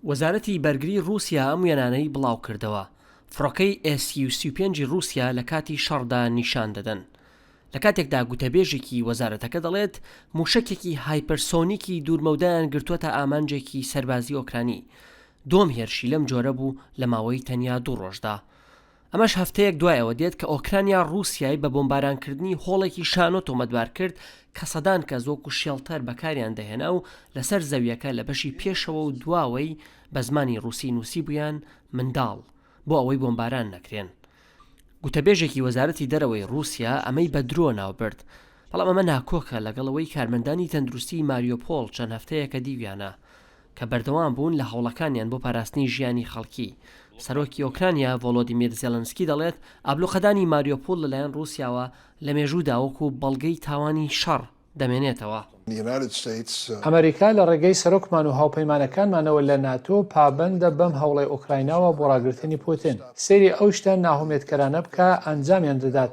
وەزارەتی بەرگری ڕووسیا ئەم وێنانەی بڵاوکردەوە، فڕۆکەی ئێس یو سی و پێنج ی ڕووسیا لە کاتی شەڕدا نیشان دەدەن. لە کاتێکدا گوتەبێژێکی وەزارەتەکە دەڵێت، مووشەکێکی هایپەرسۆنیکی دوورمەودایان گرتووەتە ئامانجێکی سەربازی ئۆکرانی، دووەم هێرشی لەم جۆرە بوو لە ماوەی تەنیا دوو ڕۆژدا. ئەمەش هەفتەیەک دوای ئەوە دێت کە ئۆکرانیا ڕووسیای بە بۆمبارانکردنی هۆڵێکی شانۆ تۆمەتبار کرد کە سەدان کەس وەکو شێڵتەر بەکاریان دەهێنا و لەسەر زەویەکە لە بەشی پێشەوە و دواوەی بە زمانی ڕووسی نووسیبوویان منداڵ بۆ ئەوەی بۆمباران نەکرێن. گوتەبێژێکی وەزارەتی دەرەوەی ڕووسیا ئەمەی بە درۆ ناوبرد، بەڵام ئەمە ناکۆکە لەگەڵ ئەوەی کارمەندانی تەندروستی ماریۆپۆڵ چەند هەفتەیەکە دیویانە کە بەردەوام بوون لە هەوڵەکانیان بۆ پاراستنی ژیانی خەڵکی. سەرۆکی ئۆکرانیا ڤۆلۆدیمیر زێلێنسکی دەڵێت، ئابلوقەدانی ماریۆپوڵ لەلایەن ڕووسیاوە لە مێژوودا وەکو بەڵگەی تاوانی شەڕ دەمێنێتەوە. ئەمەریکا لە ڕێگەی سەرۆکمان و هاوپەیمانەکانمانەوە لە ناتۆ پابەندە بەم هەوڵەی ئۆکرایناوە بۆ ڕاگرتنی پوتن. سەیری ئەو شتە ناهومێدکەرانە بکە ئەنجامیان دەدات.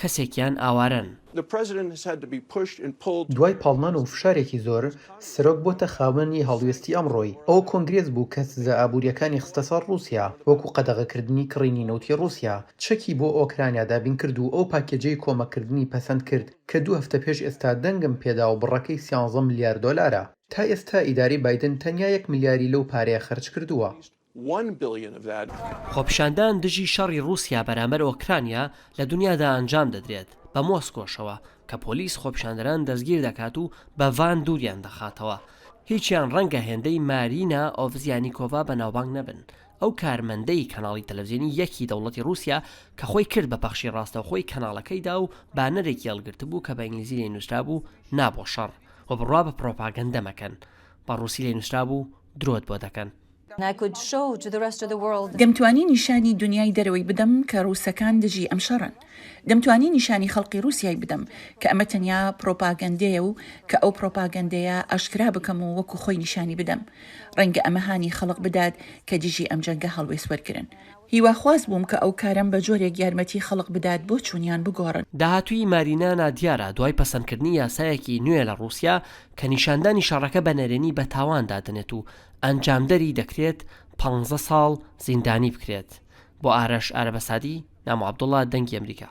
کەسێکیان ئاوارەن. دوای پاڵنان و فشارێکی زۆر، سەرۆک بۆتە خاوەن ی هەڵوێستی ئەمڕۆی. ئەوە کۆنگرێس بوو کە سزا ئابوورییەکانی خستە سەر ڕووسیا، وەکو قەدەغەکردنی کڕینی نەوتی ڕووسیا، چەکی بۆ ئۆکرانیا دابینکرد و ئەو پاکێجەی کۆمەککردنی پەسەندکرد کە دوو هەفتە پێش ئێستا دەنگم پێدا و بڕەکەی سیانزە ملیار دۆلارە. تا ئێستا ئیدارەی بایدن تەنیا یەک ملیاری لەو پارەیە خەرجکردووە. خۆپیشاندان دژی شەڕی ڕووسیا بەرامبەر ئۆکرانیا لە دونیادا ئەنجام دەدرێت، بە مۆسکۆشەوە، کە پۆلیس خۆپیشاندەران دەستگیر دەکات و بە ڤان دووریان دەخاتەوە. هیچیان ڕەنگە هێندەی مارینا ئۆڤزیانیکۆڤا بەناوبانگ نەبن، ئەو کارمەندەی کەناڵی تەلەڤزیۆنی یەکی دەوڵەتی ڕووسیا کە خۆی کرد بە پەخشی ڕاستەوخۆی کەناڵەکەیدا و بانەرێکی هەڵگرتبوو کە بە ئینگلیزی لێی نووسرابوو نا بۆ شەڕ و بڕوا بە پڕۆپاگەندە مەکەن، بە ڕووسی لێی نووسرابوو درۆت بۆ دەکەن. Good show to the rest of the world. دەمتوانی نیشانی دونیای دەرەوەی بدەم کە ڕووسەکان دژی ئەم شەڕەن. دەمتوانی نیشانی خەڵقی ڕووسیای بدەم کە ئەمە تەنیا پڕۆپاگەندەیە و کە ئەو پڕۆپاگەندەیە ئاشکرا بکەم و وەکو خۆی نیشانی بدەم. ڕەنگە ئەمە هانی خەڵق بدات کە دژی ئەم جەنگە هەڵوێست وەرگرن. هیواخواز بووم کە ئەو کارەم بە جۆرێک یارمەتی خەڵق بدات بۆچوونیان بگۆڕن. داهاتووی مارینا نادیارە دوای پەسەندکردنی یاسایەکی نوێ لە ڕووسیا کە نیشاندانی شەڕەکە بە نەرێنی بە تاوان دادەنێت و ئەنجامدەری دەکرێت پانزە ساڵ زیندانی بکرێت بۆ ئارەش ئارەبەسادی نامۆ عەبدوڵا دەنگی ئەمریکا.